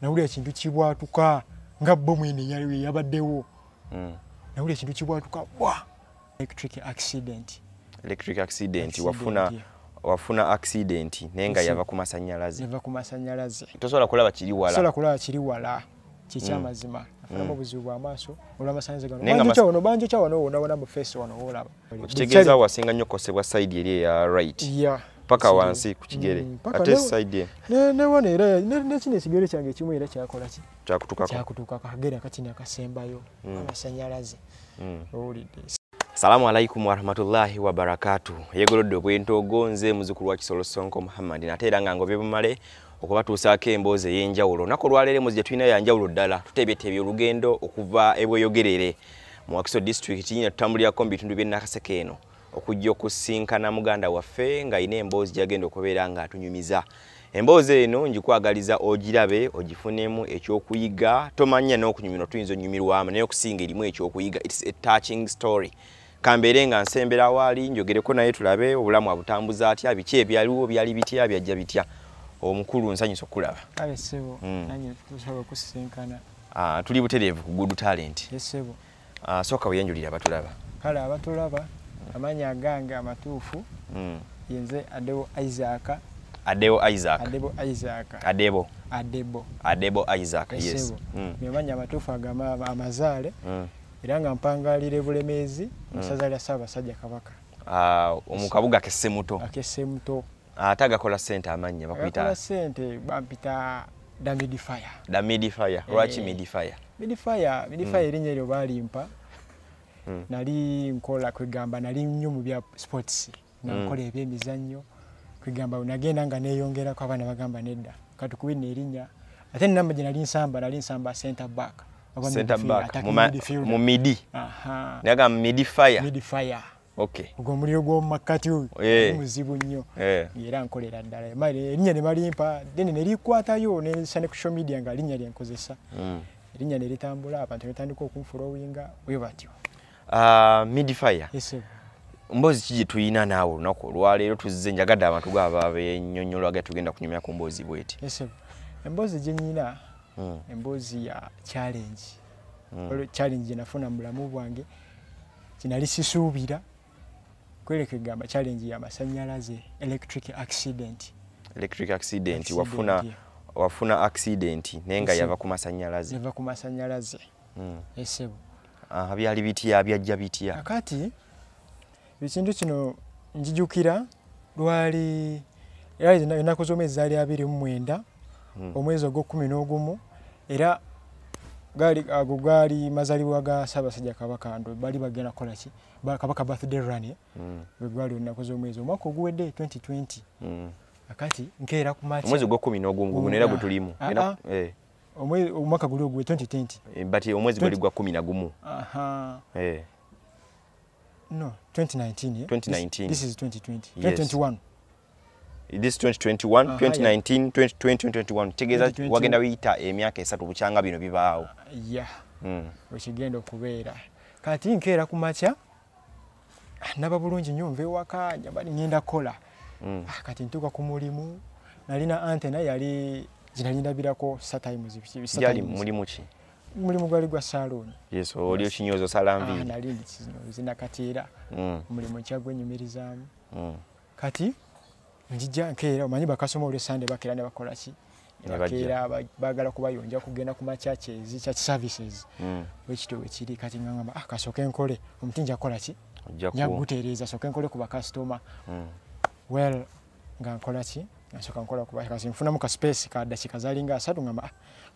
nawulira ekintu kibwatuka nga bomu eno eyaliwo eyabaddewo hmm. nawulira ekintu kibwatuka bwa electric accident electric accident wafuna wafuna accident naye nga yava ku masanyalaze yava ku masanyalaze tosobola kulaba kiri wala tosobola kulaba kiri wala kikyamazima hmm. afunamu hmm. obuzibu bw'amaaso olw'amasanyalaze gano banjo kya wano banjo kya wano wona wona mu face wano wolaba okitegeeza wasinga nnyo kukosebwa side eri eya right yeah. paka wansi ku kigere mm, ate side ye newano era nekino ekigere kyange ekimu era kyakolaki kyakutukakutuka kagere akakini akasembayo mm. amasanyalaze mm. owulidde salamu alaikum warahmatullahi wabarakatu yegolodde obwentoogo nze muzukulu wa kisolo sonko muhammadi nate era nga ngobye bumale okubatuusaako emboozi ey'enjawulo naku olwaleero emboozi gye tulina yanjawulo ddala tuteebeteebye olugendo okuva ebweyogerere Mu Wakiso District kinyina tutambulirako mu bitundu by'e Nakaseke eno okujja okusinkana muganda waffe ng'alina emboozi gyagenda okubeera ng'atunyumiza. Emboozi eno ngikwagaliza ogirabe ogifunemu ekyokuyiga tomanya n'okunyumirwa tuyinza onyumirwamu naye okusinga erimu ekyokuyiga its a touching story kambeere nga nsembera waali njogereko naye tulabe obulamu abutambuza atya biki ebyaliwo byali bitya byajja bitya omukulu nsanyusa okukulaba kale sebo mm. nanye tusaba kusisinkana Ah, tuli butereevu ku good talent. Yes sebo. Ah, soka uyenjulira abatulaba. Kale abatulaba amanya agange amatuufu. Mm. Yenze Adebo Isaac. Adebo Isaac. Adebo Isaac. Adebo. Adebo. Adebo Isaac. Yes. yes. Mm. Amanya amatuufu agama amazale. Mm. Era nga mpangalire bulemezi mm. musaza lya saba sajja kabaka. Ah, uh, omukabuga kesemuto. Akesemuto. Ate agakola sente amanya bakuyita. Agakola sente bampita da midi fire da midi fire eh, lwaki midi fire midi fire midi fire mm. erinya eryo balimpa mm. nali nkola kwegamba nali nnyo mu bya sports nga mm. nkola ebyemizannyo kwegamba nagenda nga neyongerako abaana bagamba nedda katukube nerinya ate namba gye nali nsamba nali nsamba center back mu midi nagamba midi fire midi fire Okay. Ogwo muliro gwo makati oyo. Yeah. Muzibu nnyo. Yeah. Era nkolera ddala. Mali erinya ne balimpa then ne likwata yo ne sane ku social media nga linya lya nkozesa. Mm. Erinya ne litambula abantu ne tandika okunfura owinga oyo batyo. Ah uh, mid fire. Yes. Sir. Mbozi kiji tuina nawo nako lwalero tuzize njagada abantu gwa babe nyonyolo aga tugenda kunyumya ku mbozi bweti. Yes. Sir. Mbozi jenyina. Mm. Mbozi ya challenge. Mm. Challenge nafuna mulamu bwange. kinali sisuubira kweleke gamba challenge ya masanyalaze electric accident electric accident, accident wafuna yeah. wafuna accident naye nga yava ku masanyalaze yava ku masanyalaze mm. esebo aha uh, byali bitya byajja bitya kati ekintu kino njijukira lwali era ennaku z'omwezi zaali abiri mu mwenda hmm. omwezi ogw'okkumi n'ogumu era gali ago gali mazalibwa ga sabasajja kabaka ndo bali bagenda kola ki kabaka birthday run ye mm. we gwali onako zo mwezi omako guwede 2020 mm. akati nkera ku match mwezi gwa 10 nogu ngu nera gutulimu ah, era ah. eh omwe omaka guli ogwe 2020 eh, but omwezi gwa 10 na gumu aha eh No, 2019. Yeah? 2019. This, this is 2020. Yes. 2021. This 2021, uh -huh, 2019, yeah. 2020, 2021. Tegeza wagenda wita emyaka esatu buchanga bino bibaawo. Uh, yeah. Mm. Wekigenda okubeera. Kati nkeera ku makya naba bulungi nnyo nva ewaka njabali ngenda kukola. Mm. Ah, kati ntuuka ku mulimu nalina ante naye yali gyenali ndabirako satimes. Yali mulimu ki? mulimu gwali gwa salooni yes oli okinyoza osala nviiri ah, nali ndikinyozi nakati era mm. omulimu nkyagwenyumirizaamu mm. kati njija nkeera omanyi bakasoma olwe sande bakeera ne bakola ki nebakeera bagala kubayonja kugenda ku machurches church services mm. wekityo wekiri kati ngangamba ah, kasooke nkole omuti nja kukola ki njagutereeza sooke nkole ku bakasitoma well nga nkola ki nasoka nkola kuba kasi nfunamu ka space ka dakika zalinga asatu ngamba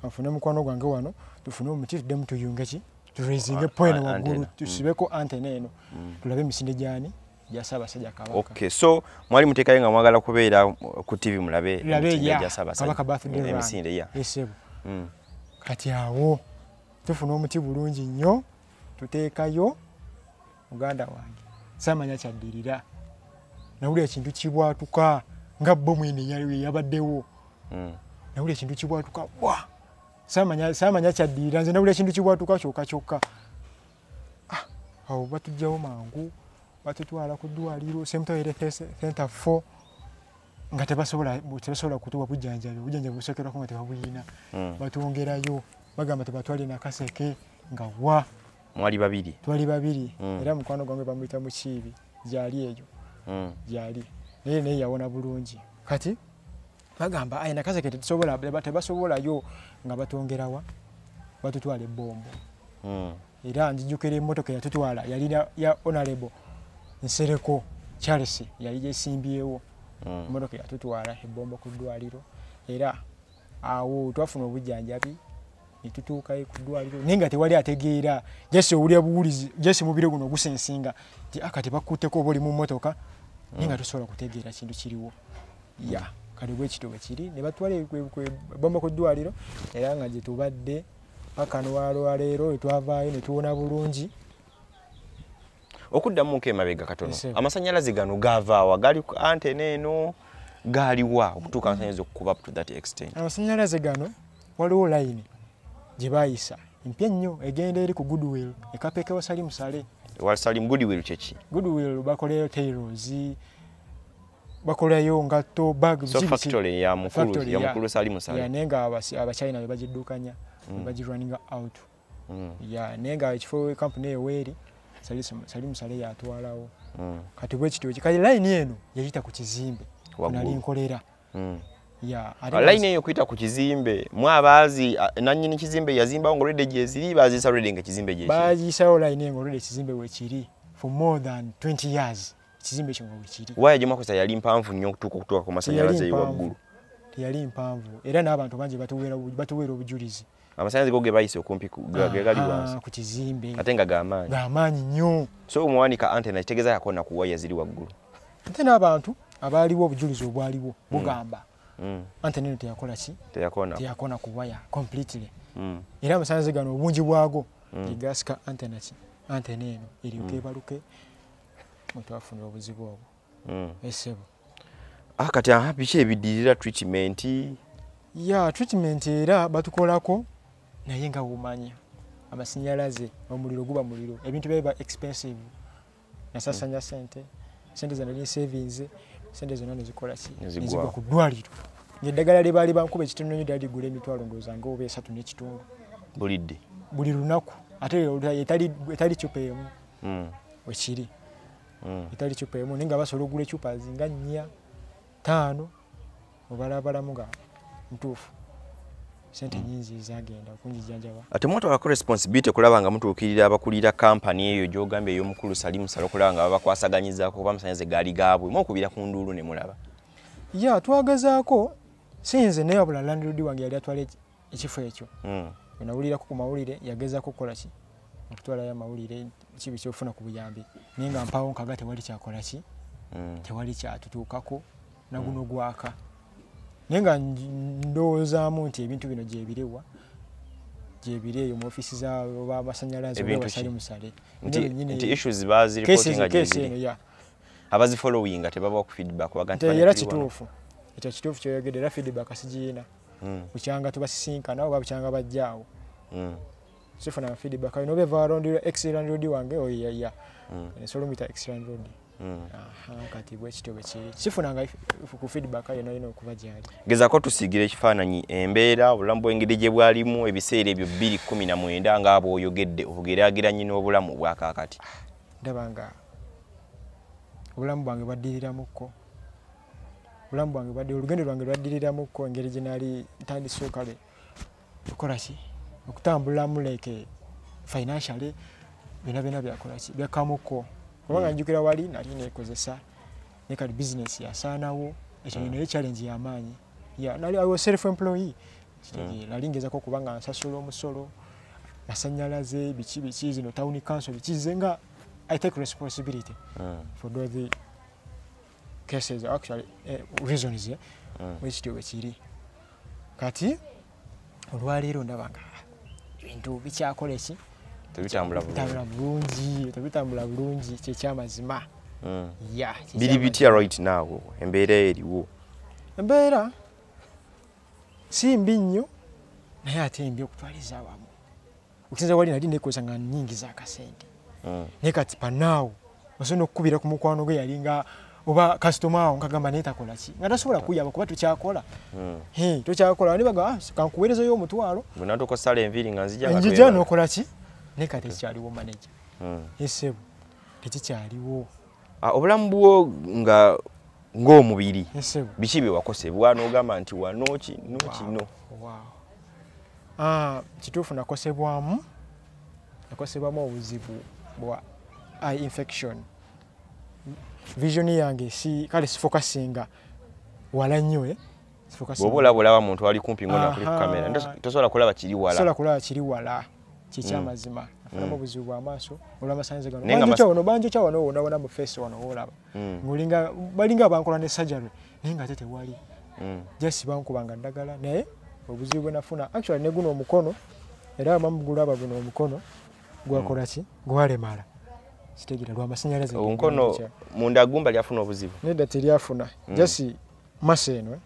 ah, nfune mukwano gwange wano tufune omuti tuddemu tuyunge ki turaising point waggulu mm. tusibeko antena eno mm. tulabe emisinde gyani gyasabasajja kabaka okay so mwali mutekayo nga mwagala kubeera ku tv mulabe emisinde ya esebo mm. kati awo tufuna omuti bulungi nnyo tuteekayo muganda wange samanya kyaddirira nawulira ekintu kibwatuka nga bomu eno yabaddewo hmm. nawulira ekintu kibwatuka bwa samanya kyaddirira nze nawulira ekintu kibwatuka kyoka kyokka ah, awo batujjawo mangu batutwala ku ddwaliro semtoyerethenta f nga tebasobola kutuwa bujanjabi obujanjabi busokerwako nga tebabuyina hmm. batwongerayo bagamba tebatwale nakaseke nga wa mwali babiri twali babiri mm. era mukwano gwange bamuyita mukiibi gyali eyo mm. gyali naye naye yawona bulungi kati bagamba aye nakazeke tetusobola tebasowolayo nga batongerawa batutwala ebombo mm. era njijukira emotoka yatutwala yali ya honorable nsereko charles yali gyesimbyewo mm. emotoka mm. yatutwala ebombo ku ddwaliro era awo twafuna obujjanjabi netutuukayo ku ddwaliro naye nga tewali ategeera jasi owulira buwulizi jasi mubiro guno gusensinga ti aka ah, tebakutteko oba oli mu mmotoka naye nga tosobola kutegeera kintu kiriwo ya kati bwekityo bwekiri ne batwala ebomba ku ddwaliro era nga gyetubadde paka nolwaleero etwavaayo netuwona bulungi okuddamu nko emabega katono amasanyalaze gano gavaawa gali ku antena eno gaaliwa okutuuka amasanyalaze okukuba to that extent amasanyalaze gano waliwo layini gye baayisa empya ennyo egenda eri ku goodwill ekapeke wa salimu sale wa salimu goodwill kyeki goodwill bakolayo tairos bakolayo ngatto bag so factory ya mukulu ya mukulu salimu sale naye nga abachina be bagiddukanya mm. bagirunninga out mm. ya naye nga ekifo kampuni eyo weeri sali musale yatwalawo mm. kati bwekityo kikali layini eno yayita ku kizimbe nali nkolera mm. layini eyo kuyita ku kizimbe mwabaazi nanyini kizimbe yazimbawo nga olwedde gyeziri baziisa olwedde nga ekizimbe gyekiri baziisawo layini eyo nga olwedde ekizimbe wekiri for more than 20 years ekizimbe ekyo nga wekiri waya gyemwakozesa yali mpanvu nnyo okutuuka okutuuka ku masanyalaze eyo waggulu teyali mpanvu era n'abantu bangi batuweera obujulizi amasanyazi go gebayise okumpi gegali wansi ku kizimbe ate nga gamaanyi gamaanyi nnyo so omuwanika antena kitegeza yakona ku waya ziri waggulu ate n'abantu abaaliwo obujulizi obwaliwo mm. bugamba mm. antena eno teyakola ki teyakona ku waya completely mm. era amasanyazi gano obungi bwago gegasika antena ki antena eno eryokeebaluke mwetwafunira obuzibu obwo mm. esebo ah, kati aha biki ebidirira treatment ya treatment era batukolako naye nga wumanya amasinyalaze omuliro guba muliro ebintu byaba expensive nasasanya mm. sente sente zana ni savings sente zona nezikola si nezigwa ku dwaliro ngedagala le bali bankuba ekitono nyo dali gule mitwalo ngoza ngo obe esatu ne kitungo bulidde buli lunaku ate etali etali chupemu mm. wekiri mm. etali cupa emu naye nga basobola okugula ecupa zinga nnya taano obalabalamu nga ntuufu sente mm. nyingi zagenda okunjijanjaba ate mwatu alako responsibility okulaba nga mutuukirira abakulira kampani eyo gyogambye ey'omukulu salimu sala okulaba nga babakwasaganyizako kuba amasanyaze gaali gaabwe mwokubira ku nduulu ne mulaba ya twagazaako sinze naye wabula landlord wange yali atwala ekifo ekyo mm. wenawulirako ku mawulire yagezako okukola ki okutwalayo amawulire kibi kyofuna ku buyambi naye nga mpaawo nkaga tewali kyakola ki mm. tewali kyatutuukako naguno mm. gwaka naye nga ndowoozaamu nti ebintu bino gyebiriwa gyebiri eyo mu ofisi zabamasanyalaze basali musale abazifolowinga tebabawa ku feedback era kituufu ekyo kituufu kyoyogedde era feedback sigiyina mm. bukyanga tubasisinkana oba bukyanga bajja awo mm. sifuna feedback ayo nobeva warondira excellent road wange oyo oh, ya ya mm. nsolo mita excellent road mm. aha kati bwe kityo bwe kiri sifuna nga ku feedback ayo nayo nokuba gyali geza ko tusigira ekifananyi embeera obulamu bwengeri gye bwalimu ebiseera ebyo 219 nga abo oyogedde obugeraageranye n'obulamu bwa kakati ndaba nga obulamu bwange bwaddiriramuko obulamu bwange bwadde olugendo lwange lwaddiriramuko engeri gye naali ntandise kale okukola ki okutambulamu like financially byona byona byakola ki byakamuko kubanga hmm. njukira wali nali nekozesa ne kati bizinesi yasaanawo ekyo hmm. naye challenge yamaanyi nali i was self employee hmm. nali ngezako okuba nga nsasula omusolo masanyalaze biki biki zino town council biki ze nga i take responsibility for the cases actually eh, reasons eh, mm. which to which iri kati olwaleero ndaba nga ebintu bikyakola eki tebitambula bulungi tebitambula bulungi kyekyamazima mm. ya biri bitya right now embeera eriwo embeera si mbi nnyo naye ate mbi okutwaliza awamu okusinza wali nali nekozesa nga nyingiza akasente mm. naye kati panaawo osobola okukubira ku mukwano gwe yalinga oba kasitoma awo nkagamba naye takola ki nga tasobola kuyaba kuba tukyakola mm. tukyakola nibaga ah, kankuweerezayo omutwalo bwenatukusala enviiri nga nzijanja nokola ki naye kati ekikyaliwo maneja mm. esebu tekikyaliwo Ah, obulamu bwo nga ng'omubiri biki bye wakosebwa n'ogamba nti wanoki nokino ah, kituufu nakosebwamu nakosebwamu obuzibu bwa eye infection vision yange si kale sifokasinga wala nnyo eh? bwoba olaba olaba muntu ali kumpi ngona kuli kukamera tosobola kulaba kiri wala tosobola kulaba kiri wala kikyamazima mm. afuna mm. obuzibu bwamaaso olwamasanze ganobanjokyawono banjokyawono wonawona mu face wano wolaba mm. ngolinga balinga abankola ne surgery naye nga ate tewali just bankubanga ddagala naye obuzibu bwenafuna actually ne guno omukono era bamugulaba guno omukono gwakola ki gwalemala sitegera lwamasanyalaze omukono mundagumba lyafuna obuzibu nedda telyafuna jasi masa eno eh?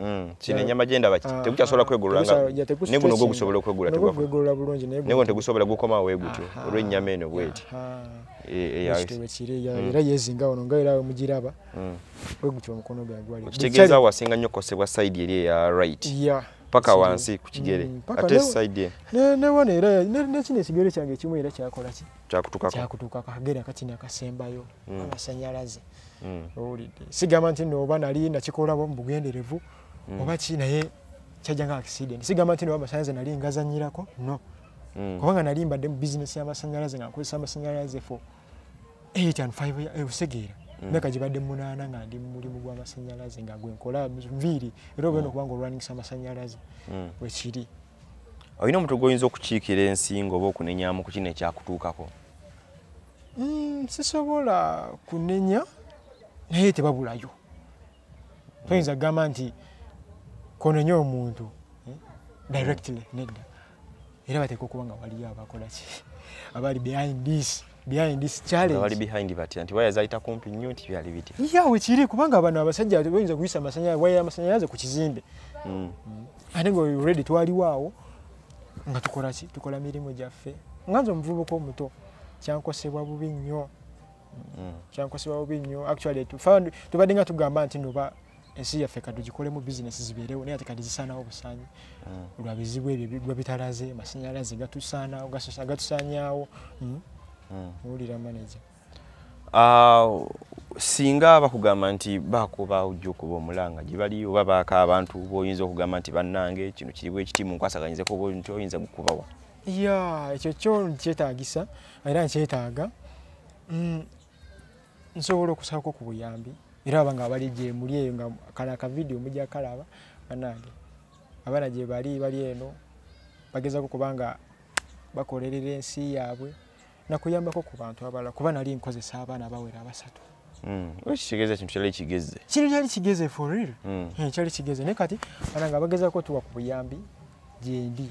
mm, kino enyama gyenda baki ah, tekukyasobola ah, kwegolola nga ne guno gwo gusobola okwegula tegwegolola bulungi ne guno tegusobola gukoma we gutyo olw'ennyama eno bweti e, e, mm. era yezinga wano nga era mugiraba mm. we gutyo omukono gwe gwali kitegeeza wasinga nnyo kukosebwa sayidi eri eya right paka wansi ku kigere ate sayidi ne wano era nekino ekigere kyange ekimu era kyakola ki kyakutuka kagere akati nakasembayo amasanyalaze mm. owulidde sigamba nti no oba nali nakikolabo mu bugenderevu mm. oba ki naye kyajja nga accident sigamba nti no amasanyalaze nali ngazanyirako no mm. kubanga nali mbadde mu bizinesi y'amasanyalaze nga nkozesa amasanyalaze fo 8 and 5 osegeera myaka gibadde munaana nga ndi mulimu gw'amasanyalaze nga gwenkola nviiri era obeera okubanga olwanisa amasanyalaze wekiri mm. olina omuntu gwoyinza okukiikira ensinga oba okunenyamu ku kino ekyakutuukako mm, sisobola kunenya naye tebabulayo toyinza kugamba nti konenya omuntu eh, directly nedda era bateeka okuba nga waliyo abakolaki abali behind this behind this challenge bali behind batya nti waya zaita kumpi nnyo nti byali bitya yeah we kiri kubanga abantu abasajja bayinza kuyisa amasanyalaze waya amasanyalaze ku kizimbe mm. mm. ate nga already twaliwaawo nga tukola ki tukola mirimu gyaffe nga nze omuvubuka omuto kyankosebwa bubi nnyo mm. kyankosebwa bubi nnyo actually tubadde nga tugamba nti noba ensi yaffe kati tugikolemu bizinesi zibeerewo naye ate kati zisaanawo busaanyi mm. lwa bizibu ebyo bigwa bitalaze amasanyalaze gatusaanawo gatusaanyaawo mm. mm. owulira manaja ah, singa bakugamba nti bakuba ojja okuba omulanga gye bali oba baaka abantu boyinza okugamba nti bannange kino kiriwo ekiti mu nkwasaganyizeko oba nti oyinza gukubawa ya ekyo kyo nkyetaagisa era nkyetaaga nsobola okusalako ku buyambi era aba nga bali gyemuli eyo nga kano akavidiyo mujja kalaba banange abaana gye bali bali eno bagezako kubanga bakolerera ensi yaabwe nakuyambako ku bantu abalala kuba nali nkozesa abaana bawera abasatu ekitegeeza hmm. kintu kyali kigeze kino kyali kigeze for real hmm. eh, kyali kigeze naye kati banange abagezako tuwa ku buyambi gyendi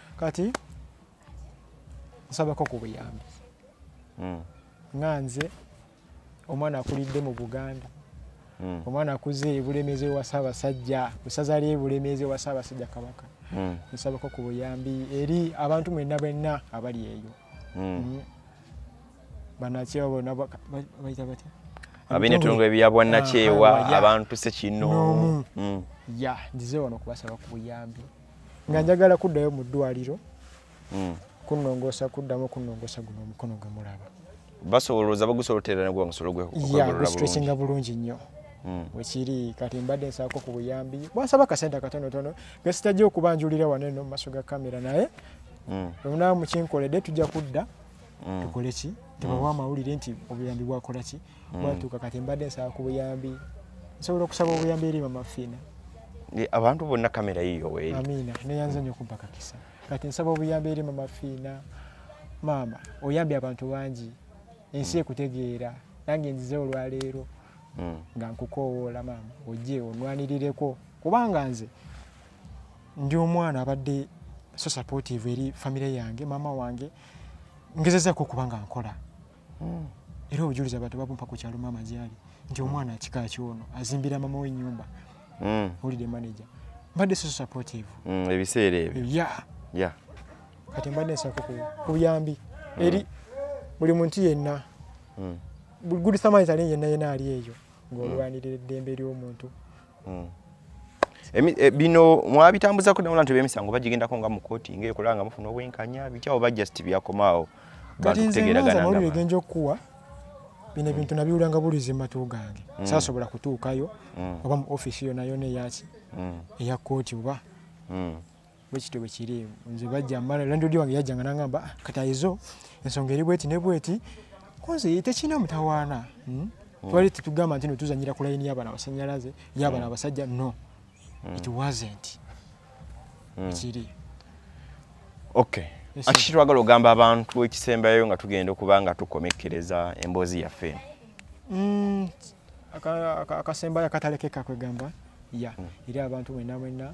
kati nsabako ku buyambi hmm. nga nze omwana akulidde mu buganda hmm. omwana akuze ebulemezi ewa ssaabasajja esaza ly ebulemezi ewa ssaabasajja kabaka hmm. nsabako ku buyambi eri abantu mwenna bwenna abali eyo banakyewa bona baita batya abinetunga ebyabwanakyewa ah, abantu sekinoomu ya nzize wano okubasaba ku buyambi nga njagala kuddayo mu ddwaliro hmm. kunongosa kuddamu kunongosa guno omukono gwe mulaba basolooza bagusolotera nagwa musolo gwegustresinga bulungi nnyo hmm. wekiri kati mbadde nsaako ku buyambi bwansaba akasente akatonotono gesitajja okubanjulira wano eno mu maaso ga kamera naye hmm. omunaa mukinkoledde tujja kudda tukoleki tebawa amawulire nti obuyambi bwakolaki hmm. mwatuuka kati mbadde nsaba ku buyambi nsobola okusaba obuyambi eri mamafiina abantu bonna kamera yiyo weri amiina neyanza nyo kumpa kakisa kati nsaba obuyambi eri mamafiina maama oyambye abantu bangi ensi hmm. ekutegeera nange nzize olwaleero hmm. nga nkukoowoola maama ojje onwanirireko kubanga nze ndi omwana abadde so supportive eri famire yange maama wange ngezezaako okuba nga nkola hmm. era obujulizi abantu babumpa ku kyalo maama gyali nti omwana akika kyono azimbira mama we nyumba hmm. holiday manager mbadde so supportive hmm, ebiseera ebyo ya ya kati mbadde nsako ku buyambi eri buli muntu yenna good samaritani yenna yenna ali eyo ng'olwanirira eddembe ly'omuntu mm. eh, bino mwabitambuzako naula nti bemisango bagigendako nga mukoti nga ekola nga mufuna obwenkanya bityawo ba just byakomaawo bantukutegeraganangaegenja okukuwa bino ebintu nabiwulanga bulizi matu gange mm. sasobola kutuukayo mm. oba mu ofisi yonayona eyaki eya kooti oba bwekityo bwekiri nze bajja mala landodi wange yajjanga nangamba ah, katayizo ensonga eri bweti ne bweti konze tekirina mutawaana hmm? hmm. twali tetugamba nti notuzanyira ku layini yabana abasanyalaze yabana hmm. abasajja no it wasn't ekiri okay akiki twagala ogamba abantu ekisembayo nga tugenda okuba nga tukomekkereza emboozi yaffe eno akasembayo akatalekeka kwegamba ya eri abantu mwena mwena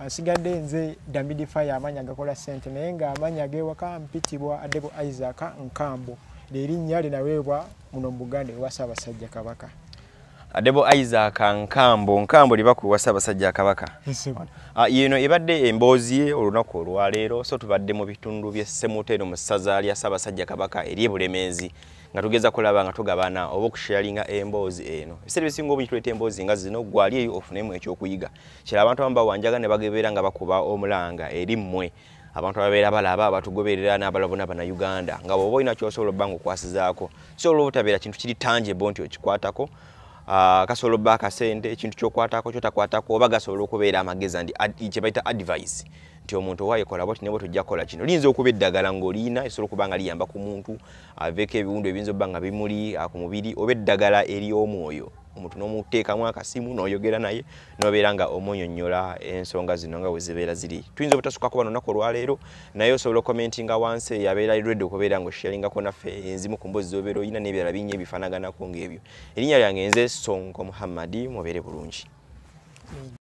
asigadde nze damidi fire amanya agakola sente naye nga amanya gewaka mpitibwa adebo isaac nkambo lyerinnya linaweebwa muno mu buganda ewa ssaabasajja kabaka adebo isaac nkambo nkambo libakuwa ssaabasajja kabaka ah, yeno ebadde emboozi ye olunaku olwaleero so tubadde mu bitundu byessemuteero mu ssaza lya ssaabasajja kabaka eri ebulemeezi nga tugeza kulaba nga tugabana oba okusharinga emboozi eno ebiseera ebisinga obungi tuleeta emboozi nga zino gwali eyo ofunemu ekyokuyiga kira abantu abamu bawanjaga ne bagebeera nga bakuba omulanga eri mmwe abantu ababeera balaba abatugoberera n'abalabona bannayuganda nga bwoba olina kyosobola obba nga okwasizaako so olwobutabeera kintu kiri tanjebo nti okikwatako ah, kasobola obba akasente ekintu kyokwatako kyotakwatako oba gasobola okubeera amagezi andi kye bayita advise nti omuntu owayekola bwati nebo tujja kukola kino liyinza okuba eddagala ng'oliina esobola okuba nga liyamba ku muntu aveeko ebiwundu ebiyinza obba nga bimuli ah, ku mubiri oba eddagala ery'omwoyo omuntu n'omuteekamu akasimu n'oyogera naye nobeera nga omunyonyola ensonga zino nga wezibeera ziri tuyinza obutasukako bano naku olwaleero naye osobola okomentinga wansi eyo abeera redi okubeera nga osharingako naffe enzimu ku mbozi zobeera olina n'ebirala bingi ebifanaganako ng'ebyo erinnya lyange nze sonko muhammadi mubeere bulungi